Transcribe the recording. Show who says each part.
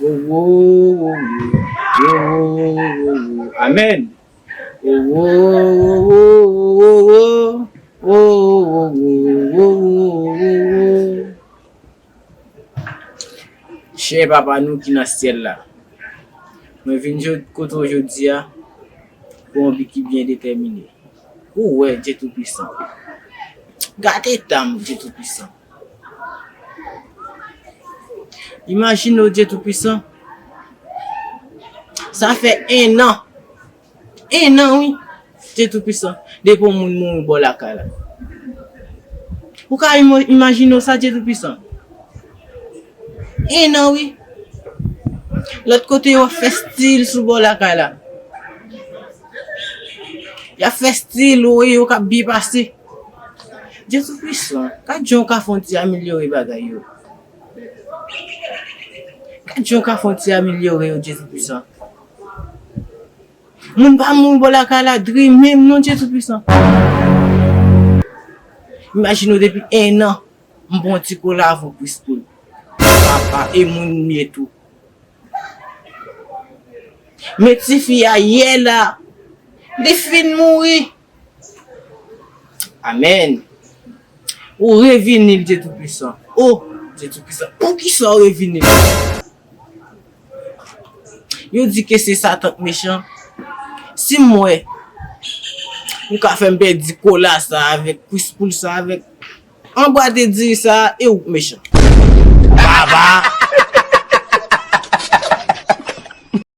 Speaker 1: Wowooowoowoowoowoowoo Amen Wowooowoowoowoowoowoowoowoo Chè Papa nou ki nan syèl la, mwen vin kote w jodi a pou yon bi ki byen detèmine. Ou wè, Dye Toupisan. Gad eta m, Dye Toupisan. Imajine w Dye Toupisan, sa fè ennan, ennan wi Dye Toupisan, depi yon moun mouri bò lakay la. Ou ka imajine w sa Dye Toupisan? Ennan wi. Lòt kote yo ap fè stil sou bò lakay la. Y ap fè stil, ou wè yo k ap byen pase. Dye Toupisan, gad jan w ka fè yon ti amelyore bagay yo. Gad jan w ka fè yon ti amelyore yo, Dye Toupisan. Moun pa mouri bò lakay la dri menm non, Dye Toupisan. Imajine w depi ennan, m pran yon ti kola avèw Priskoul. Papa, e moun m ye tou. Men tifi a yè la, li fin mouri. Amen! Ou revini l Dye Toupisan. O! Dye Toupisan, poukisa w revini l? Yo di ke se Satan k mechan. Si m wè ou ka fè m pèdi kola sa a avèk kwis poul sa a avèk anbwa de diri sa a, e ou k mechan. Baba!